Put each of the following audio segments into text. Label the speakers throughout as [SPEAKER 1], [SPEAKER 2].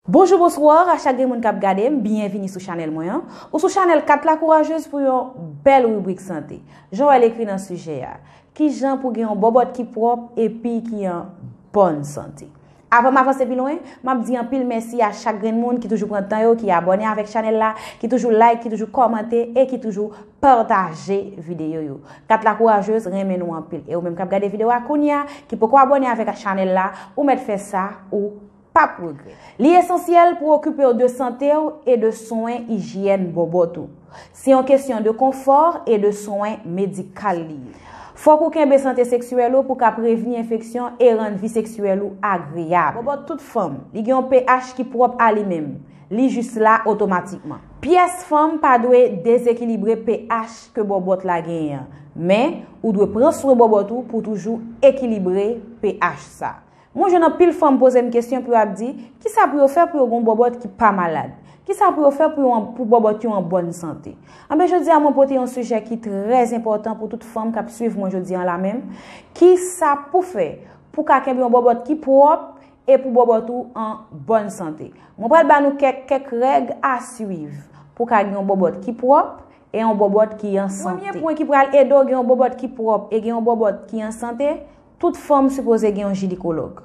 [SPEAKER 1] Bonjou bonsoir a chak gen moun kap gadem byen vini sou chanel mwen an ou sou chanel 4 la kourajez pou yon bel ribrik sante jan wèl ekri nan sijè a kijan pou gen yon bòbòt ki pròp epi ki an bòn sante avanm avanse pi lwen map di anpil mèsi a chak grenn moun ki toujou pran tan yo ki abòne avèk chanel la ki toujou like ki toujou kòmante e ki toujou pataje video yo 4 la kourajez renmen nou anpil e ou menm kap gade video a kounya ki poko abòne avèk chanel la ou mèt fè sa ou Pap regrè. Li esansyèl pou okipe w de sante w e de swen ijyèn bòbòt ou. Se yon kesyon de konfò e de swen medikal li ye. Fòk ou kenbe sante seksyèl ou pou ka prevni enfeksyon e rann vi seksyèl ou agreyab. Bòbòt tout fanm, li gen yon pH ki pwòp a li menm. Li jis la otomatikman. Pyès fanm pa dwe dezekilibre pH ke bòbòt la genyen an. Men, ou dwe pran swen bòbòt ou pou toujou ekilibre pH sa. Mwen jwenn anpil fanm poze m kesyon pou yo ap di, kisa pou yo fè pou yo gen yon bòbòt ki pa malad? Kisa pou yo fè pou bòbòt yo an bòn sante? Anben jodi a mwen pote yon sijè ki trè enpòtan pou tout fanm k ap swiv mwen jodi an la menm, kisa pou fè pou ka kenbe yon bòbòt ki pwòp e pou bòbòt ou an bòn sante? Mwen pral ba nou kèk kèk règ a swiv pou ka gen yon bòbòt ki pwòp e yon bòbòt ki an sante. Premye pwen ki pral ede w gen yon bòbòt ki pwòp e gen yon bòbòt ki an sante, Tout fanm sipoze gen yon jinikològ.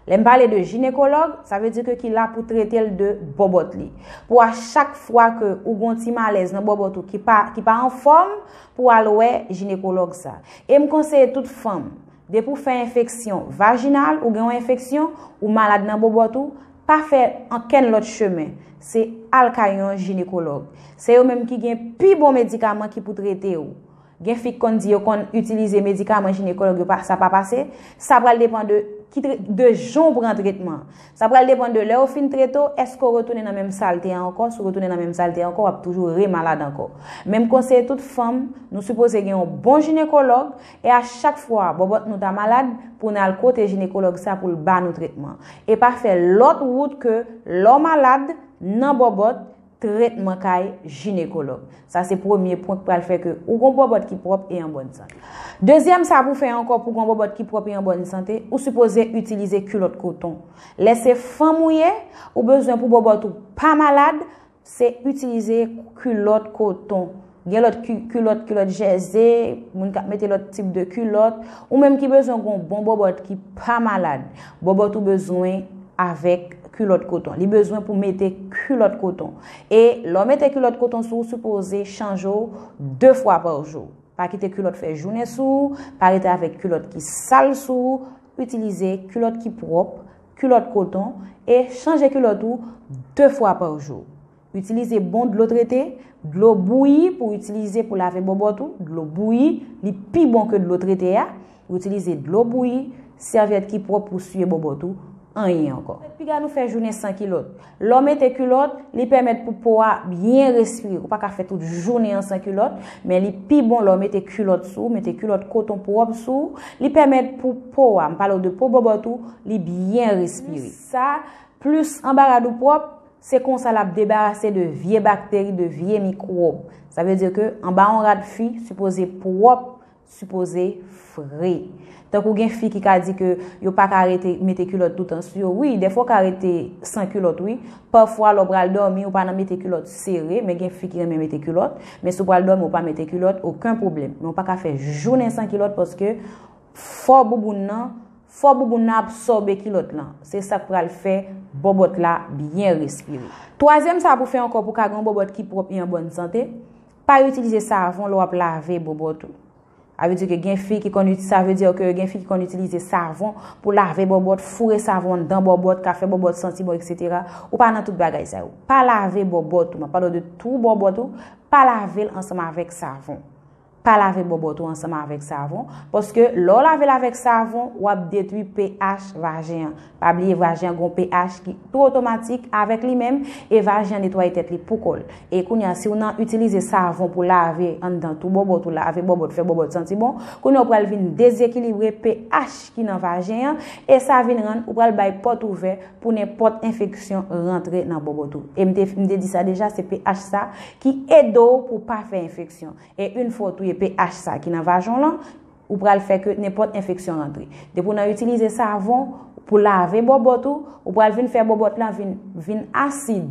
[SPEAKER 1] Lè m pale de jinekològ, sa vle di ke ki la pou trete l de bòbòt li. Pou a chak fwa ke ou gon ti malèz nan bòbòt ou ki pa ki pa anfòm, pou al wè jinekològ sa. E m konseye tout fanm, depi ou fè enfeksyon vajinal, ou gen yon enfeksyon, ou malad nan bòbòt ou, pa fè ankenn lòt chemen, se al kay yon jinekològ. Se yo menm ki gen pi bon medikaman ki pou trete ou. Gen fi k konn di yo konn itilize medikaman jinekològ yo pa sa pa pase, sa pral depan de ki tre de jan w pran tretman an. Sa pral depan de lè ou fin trete w, èske w retounen nan menm sa l te an ankò, si w retounen nan menm sa l te an ankò w ap toujou re malad ankò. Men m konseye tout fanm, nou sipoze gen yon bon jinekològ e a chak fwa bòbòt nou ta malad pou n al kote jinekològ sa pou l ba nou tretman. E pa fè lòt wout ke lè w malad, nan bòbòt, Tretman kay jinekològ. Sa se premye pwen k pral fè ke ou gon bòbòt ki pwòp e an bòn sante. Dezyèm sa pou fè ankò pou gon bòbòt ki pwòp e an bòn sante, ou sipoze itilize kilòt koton. Lè se fanm ou ye, ou bezwen pou bòbòt ou pa malad, se itilize kilòt koton. Gen lòt kilòt, kilòt jèze, moun kap mete lòt tip de kilòt. Ou menm ki bezwen gon bon bòbòt ki pa malad. Bòbòt ou bezwen avèk kilòt koton. Li bezwen pou mete kilòt koton. E lò mete kilòt koton sou ou sipoze chanje ou 2 fwa pa jou. Pa kite kilòt fè jounen sou ou, pa rete avèk kilòt ki sal sou ou. Itilize kilòt ki pwòp, kilòt koton e chanje kilòt ou 2 fwa pa jou. Itilize bon dlo trete, dlo bouyi pou w itilize pou lave bòbòt ou, dlo bouyi, li pi bon ke dlo trete a, itilize dlo bouyi, sèvyèt ki pwòp pou siye bòbòt ou, anyen ankò. Piga nou fè jounen san kilòt. Lè w mete kilòt, li pèmèt pou po a byen respire. Ou pa ka fè tout jounen an san kilòt, men li pi bon lè w mete kilòt sou ou, mete kilòt koton pwòp sou ou, li pèmèt pou po a, m pale w de po bòbòt ou, li byen respire. Sa, plis anba rad ou pwòp, Se konsa l ap debarase de vye bakteri, de vye mikwòb. Sa vle di ke anba yon rad fi sipoze pwòp, sipoze fre. Tankou gen fi ki ka di ke yo pa ka rete mete kilòt toutan sou yo. Wi, dèfwa w ka rete san kilòt wi. Pafwa lè w pral dòmi ou pa nan mete kilòt sere, men gen fi ki renmen mete kilòt. Men si w pral dòmi ou pa mete kilòt, oken pwoblèm. Men w pa ka fè jounen san kilòt paske fò bouboun nan. Fò bouboun nan absòbe kilòt lan. Se sa k pral fè bòbòt la byen respire. Twazyèm sa pou fè ankò pou ka gen yon bòbòt ki pwòp e an bòn sante, pa itilize savon lè w ap lave bòbòt ou. Sa vle di ke gen fi ki konn iti, sa vle di ke gen fi ki konn itilize savon pou lave bòbòt, foure savon anndan bòbòt, ka fè bòbòt santi bon eksetera. Ou pa nan tout bagay sa yo. Pa lave bòbòt ou, m ap pale w de twou bòbòt ou, pa lave l ansanm avèk savon. Pa lave bòbòt ou ansanm avèk savon, paske lè w lave l avèk savon, w ap detwi pH vajen an. Pa bliye vajen an gen yon pH ki tou otomatik avèk li menm, e vajen an netwaye tèt li pou kò l. E kounye a, si w nan itilize savon pou lave anndan tou bòbòt ou, lave bòbòt, fè bòbòt santi bon, kounye a ou pral vin dezekilibre pH ki nan vajen an, e sa vin rann ou pral bay pòt ouvè pou nenpòt enfeksyon rantre nan bòbòt ou. E m te di sa deja, se pH sa. Ki ede w pou w pa fè enfeksyon. E yn fwa w touye pH sa ki nan vajan w lan, ou pral fè ke nenpòt enfeksyon rantre. Depi w nan itilize savon pou lave bòbòt ou, ou pral vin fè bòbòt lan vin vin asid.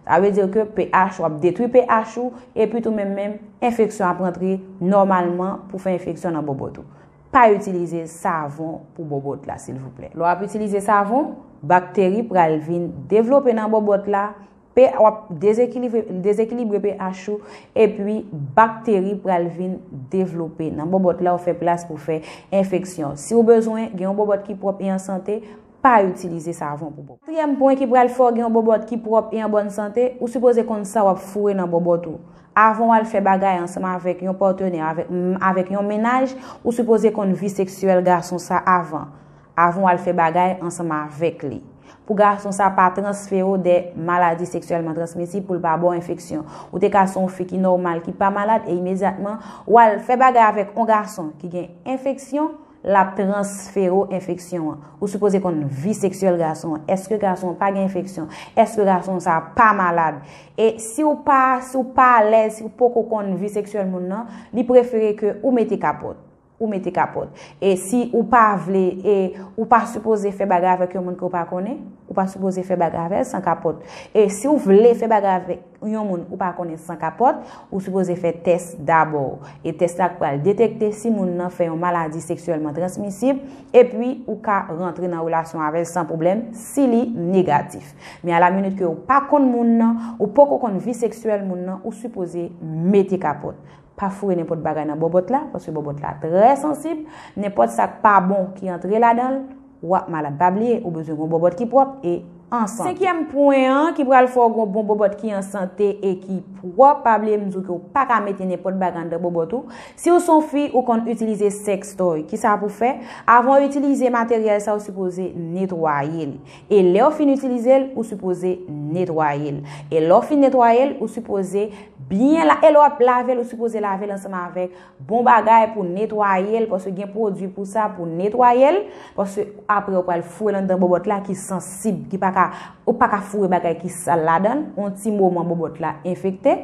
[SPEAKER 1] Sa vle di ke pH, wap detwi pH ou, epi tou menm menm, enfeksyon ap rantre nòmalman pou fè enfeksyon nan bòbòt ou. Pa itilize savon pou bòbòt la silvouplè. Lè w ap itilize savon, bakteri pral vin devlope nan bòbòt la, Pe a wap dezekilibre pe ach ou epi bakteri pral vin devlope nan bobot la ou fe plas pou fe enfeksyon. Si ou bezwen gen yon bobot ki pwop e an sante, pa itilize savon pou bobot. Katriyem pwen ki pral fe w gen yon bobot ki pwop e an bonn sante, ou sipoze konn sa wap foure nan bobot ou. Avan wal fe bagay ansanm avek yon patenè avek yon menaj, ou sipoze konn vi seksyel gason sa avan. Avan w al fè bagay ansanm avèk li. Pou gason sa pa transfere w de maladi seksyèlman transmisib pou l pa ba w enfeksyon. Ou te ka se yon fi ki nòmal ki pa malad e imedyatman w al fè bagay avèk yon gason ki gen enfeksyon l ap transfere w enfeksyon an. Ou sipoze konn vi seksyèl gason an. Eske gason an pa gen enfeksyon? Eske gason sa pa malad? E si w pa si w pa alèz, si w poko konn vi seksyèl moun nan, li prefere ke ou mete kapòt. Ou mete kapòt. E si ou pa vle, e ou pa sipoze fè bagay avèk yon moun ke ou pa konnen, ou pa sipoze fè bagay avèl san kapòt. E si ou vle fè bagay avèk yon moun ou pa konnen san kapòt, ou sipoze fè tès dabò. E tès la pral detekte si moun nan fè yon maladi seksyèlman transmisib, epi ou ka rantre nan relasyon avèl san pwoblèm si li negatif. Men a la minit ke ou pa konn moun nan, ou poko konn vi seksyèl moun nan, ou sipoze mete kapòt. Pa foure nenpòt bagay nan bòbòt la, paske bòbòt la trè sansib, nenpòt sa k pa bon ki antre ladan l, w ap malad. Pa bliye, ou bezwen gon bòbòt ki pwòp e an sante. Senkyèm pwen an ki pral fè w gon bon bòbòt ki an sante e ki pwòp, pa bliye m di w ke w pa ka mete nenpòt bagay anndan bòbòt ou. Si w se yon fi, ou konn itilize sèkstòy. Kisa pou w fè? Avan w itilize materyèl sa, ou sipoze netwaye li. E lè ou fin itilize l, ou sipoze netwaye l. E lè ou fin netwaye l, ou sipoze byen la, e lè wap lave l, ou sipoze lave l ansanm avèk bon bagay pou netwaye l, paske gen pwodui pou sa pou netwaye l, paske apre ou pral foure l anndan bòbòt la ki sansib, ki pa ka, ou pa ka foure bagay ki sal ladan l, yon ti moman bòbòt la enfekte.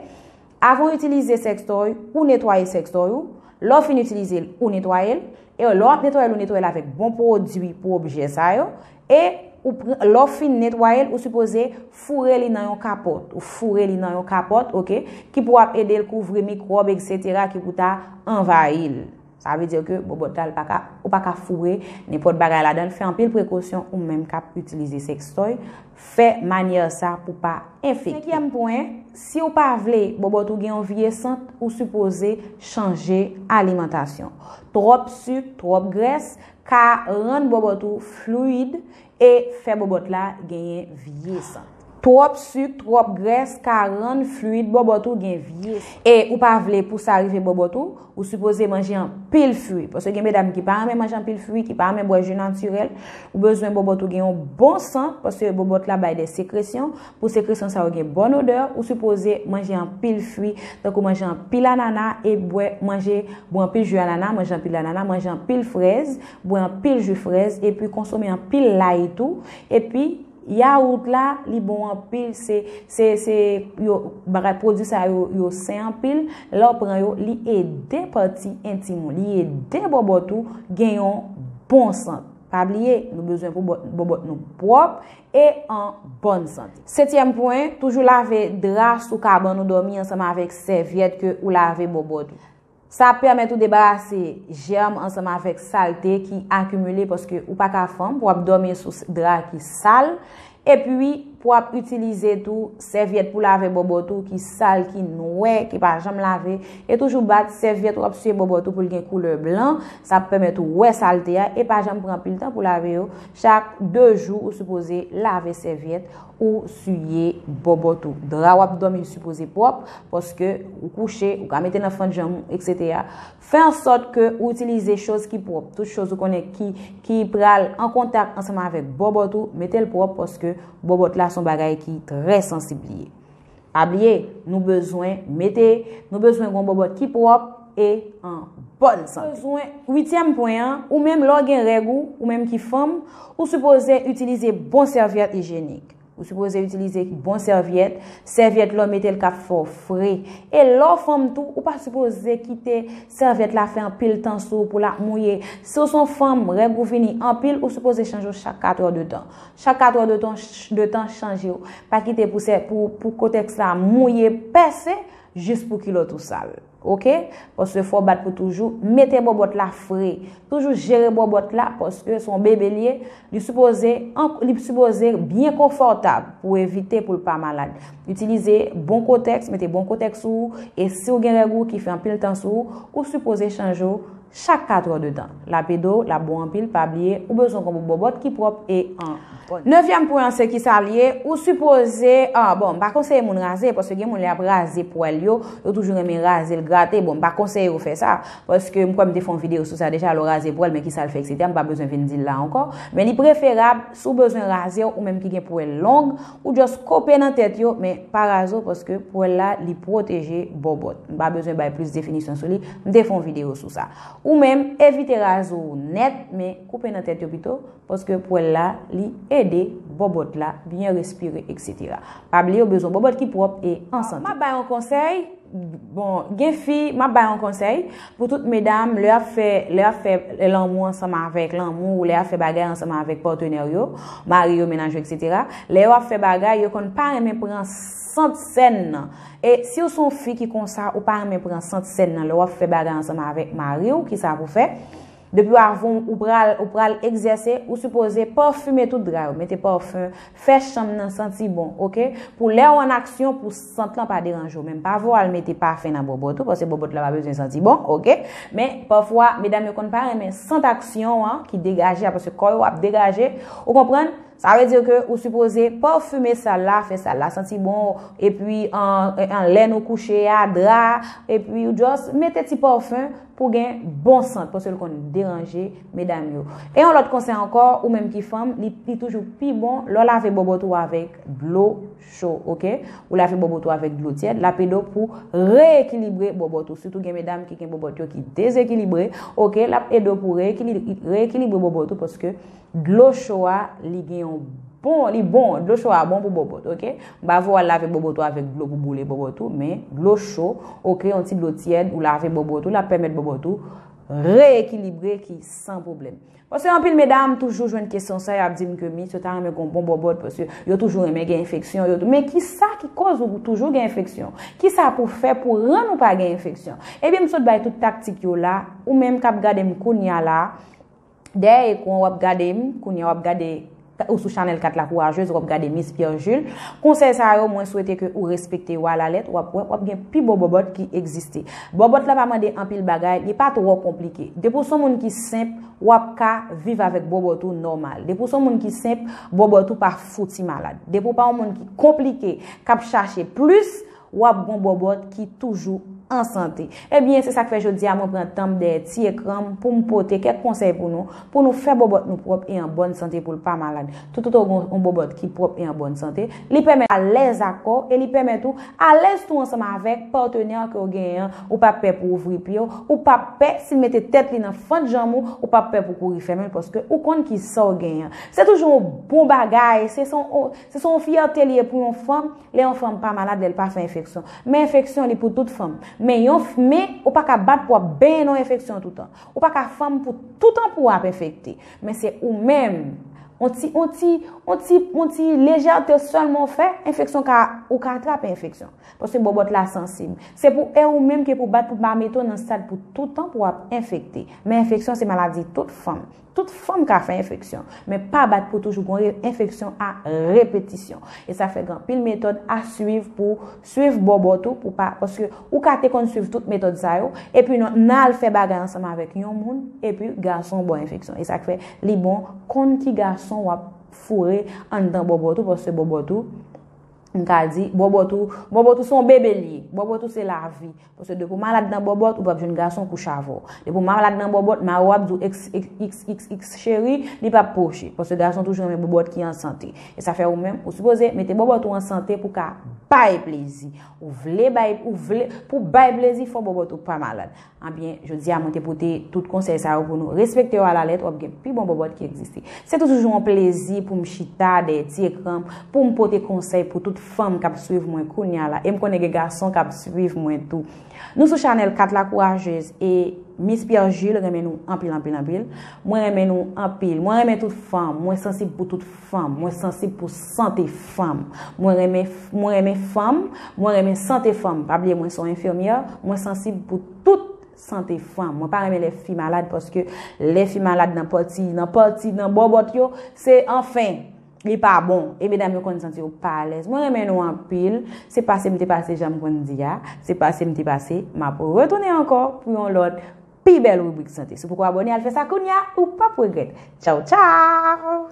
[SPEAKER 1] Avan w itilize sèkstòy, ou netwaye sèkstòy ou, lè w fin itilize l, ou netwaye l, e lè w ap netwaye l ou netwaye l avèk bon pwodui pou objè sa yo, e ou pran, lè w fin netwaye l ou sipoze foure li nan yon kapòt, ou foure li nan yon kapòt ok, ki pou ap ede l kouvri mikwòb eksetera ki pou ta anvayi l. Sa vle dire ke bobot la ou pa ka foure nenpot bagay ladanl fè anpil prekosyon ou menm kap itilize sextoy fè manyè sa pou pa enfekte. Senkyèm pwen, siw pa vle bobot ou gen yon vye sant ou sipoze chanje alimantasyon. Twop suk, twop grès ka rann bobot ou fluid E fè bòbòt la genyen vye sant. Twòp suk, twòp grès ka rann fluid bòbòt ou gen vye sant. E ou pa vle pou sa rive bòbòt ou, ou sipoze manje anpil fui. Paske gen medam ki pa renmen manje anpil fui, ki pa renmen bwè ju natirèl. Ou bezwen bòbòt ou gen yon bon sant, paske bòbòt la bay de sekresyon. Pou sekresyon sa yo gen bon odè, ou sipoze manje anpil fui. Tankou manje anpil anana, e bwè, manje, bwè anpil ju anana, manje anpil anana, manje anpil frèz, Bwè anpil jwi frèz epi konsome anpil lay tou epi yawout la li bon anpil se se se yo bagay pwodwi sa yo yo sen anpil lè w pran yo li ede pati entim ou li ede bòbòt ou gen yon bon sant pa bliye nou bezwen pou bòbòt nou pwòp e an bòn sante. Setyèm pwen, toujou lave dra sou kabann ou dòmi ansanm avèk sèvyèt ke ou lave bòbòt ou. Sa ap pèmèt ou debarase jèm ansanm avèk salte ki akimile paske ou pa ka fanm pou ap dòmi sou dra ki sal epi pou ap itilize tou sèvyèt pou lave bòbòt ou ki sal ki nwè ki pa janm lave e toujou bat sèvyèt ou ap siye bòbòt ou pou l gen koulè blan sa ap pèmèt ou wè salte a e pa janm pran anpil tan pou lave yo chak 2 jou ou sipoze lave sèvyèt Ou siye bòbòt ou. Dra wap dòmi li sipoze pwòp, paske ou kouche, ou ka mete nan fant janm ou, etc. Fè an sòt ke ou itilize choz ki pwòp. Tout choz ou konnen ki pral an kontak ansanm avèk bòbòt ou, mete l pwòp paske bòbòt la son bagay ki trè sansib li ye. Pa bliye, nou bezwen mete, nou bezwen gon bòbòt ki pwòp e an bòn sante. Nou bezwen, uityèm pwen an, ou menm lè w gen règ ou, ou menm ki fanm, ou sipoze itilize bon sèvyèt ijyenik. Ou sipoze itilize bon sèvyèt, sèvyèt lè w mete l k ap fè w fre. E lè w fanm tou, ou pa sipoze kite sèvyèt la fè anpil tan sou ou pou l ap mouye. Si w s on fanm, règ ou vini anpil, ou sipoze chanje w chak katrè de tan. Chak 4 è de tan chanje w. Pa kite pou kotèks la mouye, pèse, jis pou kilòt ou sal. Ok? Paske fò w bat pou toujou. Mete bòbòt la fre. Toujou jere bòbòt la paske se yon bebe l ye. Li sipoze, li sipoze byen konfòtab pou evite pou l pa malad. Itilize bon kotèks, mete bon kotèks sou ou. E si w gen règ ou ki fè anpil tan sou ou, ou sipoze chanje w. chak 4 heures de tan lap ede w lap bon anpil pa bliye ou bezwen konbo bòbòt ki pwòp e an bòn. Nevyèm pwen an se kisa l ye ou sipoze ah bon m pa konseye moun raze paske gen moun lè yap raze pwèl yo yo toujou renmen raze l grate bon m pa konseye ou fè sa paske m kwè m te fè yon videyo sou sa deja lè w raze pwèl men kisa l fè etc m pa bezwen vin di l la ankò men li preferab si w bezwen raze w menm ki gen pwèl long Ou just kope nan tèt yo, men pa razo paske pwèl la li pwoteje bòbòt. M pa bezwen bay plis definisyon sou li, m te fè yon videyo sou sa. Ou menm, evite razo ou nèt, men koupe nan tèt yo pito, paske pwèl la li ede bòbòt la byen respire etc. Pa bliye ou bezwen bòbòt ki pwòp e an sante. Map bay yon konsèy, bon gen fi, map bay yon konsèy. Pou tout medam, lè ap fè, lè ap fè lanmou ansanm avèk, lanmou ou lè ap fè bagay ansanm avèk patenè w yo, mari yo, mennaj yo etc. Lè yo ap fè bagay, yo konn pa renmen pran sant sèn nan. E si w se yon fi ki konsa, ou pa renmen pran sant sèn nan lè w ap fè bagay ansanm avèk mari w, kisa pou fè? Depiw a voum ou pral ou pral egzèse ou sipoze parfume tout dra yo mete parfum fè chanm nan santi bon ok pou lèw an aksyon pou sant lan pa deranje w menm pa vo al mete pafen nan bòbòt ou paske bòbòt la pa bezwen santi bon ok men pafwa medam yo konn pa renmen sant aksyon an ki degaje a paske kò yo ap degaje ou konprann Sa vle di ke ou sipoze pòfime sal la, fè sal la santi bon, epi an lè nou kouche a, dra, epi ou just mete ti pòfim pou gen bon sant, paske l konn deranje medam yo. E yon lòt konsèy ankò, ou menm ki fanm, li toujou pi bon lè w lave bòbòt ou avèk dlo cho, ok? Ou lave bòbòt ou avèk dlo tyèd, l ap ede w pou re-ekilibre bòbòt ou. Sitou gen medam ki gen bòbòt yo ki dezekilibre, ok? L ap ede w pou re-ekilibre bòbòt ou paske. Dlo cho a li gen yon bon, li bon, dlo cho a bon pou bobot, ok. M pa vle w al lave bobot ou avèk dlo pou boule bobot ou, men dlo cho, ok, yon ti dlo tyèd, ou lave bobot ou, l ap pèmèt bobot ou reyekilibre ki san pwoblèm. Paske anpil medam toujou jwenn kesyon sa, y ap di m ke mit yo ta renmen gon bon bobot, paske yo toujou renmen gen enfeksyon, yo tou, men ki sa ki koz ou toujou gen enfeksyon? Ki sa pou w fè pou rann ou pa gen enfeksyon? Ebyen m sot bay tout taktik yo la, ou menm k ap gade m kounya la, Dèyè ekran wap gade m kounye a wap gade ou sou chanèl 4 la kourajez wap gade Miss Pierre Jules konsèy sa yo mwen swete ke ou respekte yo a la lèt wap wè wap gen pi bon bòbòt ki egziste bòbòt la pa mande anpil bagay li pa twò konplike depi w son moun ki senp wap ka viv avèk bòbòt ou nòmal depi w son moun ki senp bòbòt ou pa fouti malad depi w pa yon moun ki konplike kap chache plis W ap gon bòbòt ki toujou an sante. Ebyen, se sa k fè jodi a mwen pran tan m dèyè ti ekran m pou m pote kèk konsèy pou nou, pou nou fè bòbòt nou pwòp e an bòn sante pou l pa malad. Toutotan w gen yon bòbòt ki pwòp e an bòn sante, li pèmèt ou alèz ak kò w e li pèmèt ou alèz tou ansanm avèk patenè ke w genyen an, ou p ap pè pou w ouvri pye w, ou p ap pè si l mete tèt li nan fant janm ou, ou p ap pè pou w kouri fèmen l paske ou konn kisa w genyen. Se toujou yon bon bagay, se se yon fyète li ye pou yon fanm. Lè yon fanm pa malad lèl pa fè enfeksyon. Men enfeksyon li pou tout fanm. Men yon men ou pa ka bat pou ap benyen nan enfeksyon toutan. Ou pa ka fanm pou toutan pou ap enfekte. Men se ou menm. On ti on ti on ti on ti lejète sèlman ou fè enfeksyon ka ou ka atrape enfeksyon. Paske bòbòt la sansib. Se pou e ou menm ke pou bat pou pa mete w nan stad pou toutan pou ap enfekte. Men enfeksyon se maladi tout fanm. Tout fanm ka fè enfeksyon, men pa bat pou toujou gon enfeksyon a repetisyon. E sa fè gen anpil metòd a swiv pou swiv bò bòt ou pou pa, paske ou ka te konn swiv tout metòd sa yo, epi nan nan al fè bagay ansanm avèk yon moun, epi gason ba w enfeksyon. E sa k fè li bon konn ki gason w ap foure anndan bò bòt ou, paske bò bòt ou. m ka di, bòbòt ou, bòbòt ou se yon bebe li ye. Bòbòt ou se lavi. Pwosè depi w malad nan bòbòt, ou p ap jwenn gason kouche avè w. Depi w malad nan bòbòt, mari w ap di w xxxx cheri, li p ap pwoche. Pwosè gason toujou renmen bòbòt ki an sante. E sa fè ou menm, ou sipoze mete bòbòt ou an sante pou w ka bay plezi. Ou vle bay, ou vle, pou w bay plezi, fò bòbòt ou pa malad. Anbyen, jodi a mwen te pote tout konsèy sa yo pou nou. Respekte yo a la lèt, w ap gen pi bon bòbòt ki egziste. Se toujou yon plezi pou m chita dèyè ti ekran m, pou m pote konsèy pou tout fanm k ap swiv mwen kounya la, e m konnen gen gason k ap swiv mwen tou. Nou sou chanèl 4 la kourajez e Miss Pierre Jules renmen nou anpil anpil anpil. Mwen renmen nou anpil. Mwen renmen tout fanm. Mwen sansib pou tout. Fanm. Mwen sansib pou sante fanm. Mwen renmen Mwen renmen fanm. Mwen renmen sante fanm. Pa bliye mwen se yon enfimyè. Mwen sansib pou tout sante fanm. Mwen pa renmen lè fi malad paske lè fi malad nan pati nan pati nan bòbòt yo se anfen li pa bon. E medam yo konn santi yo pa alèz. Mwen renmen nou anpil. Se pase m te pase jan m konn di a. Se pase m te pase. M ap retounen ankò pou yon lòt. pi bèl ribrik sante. Si w poko abòne al fè sa kounya ou pap regrèt. Tchaw tchaw!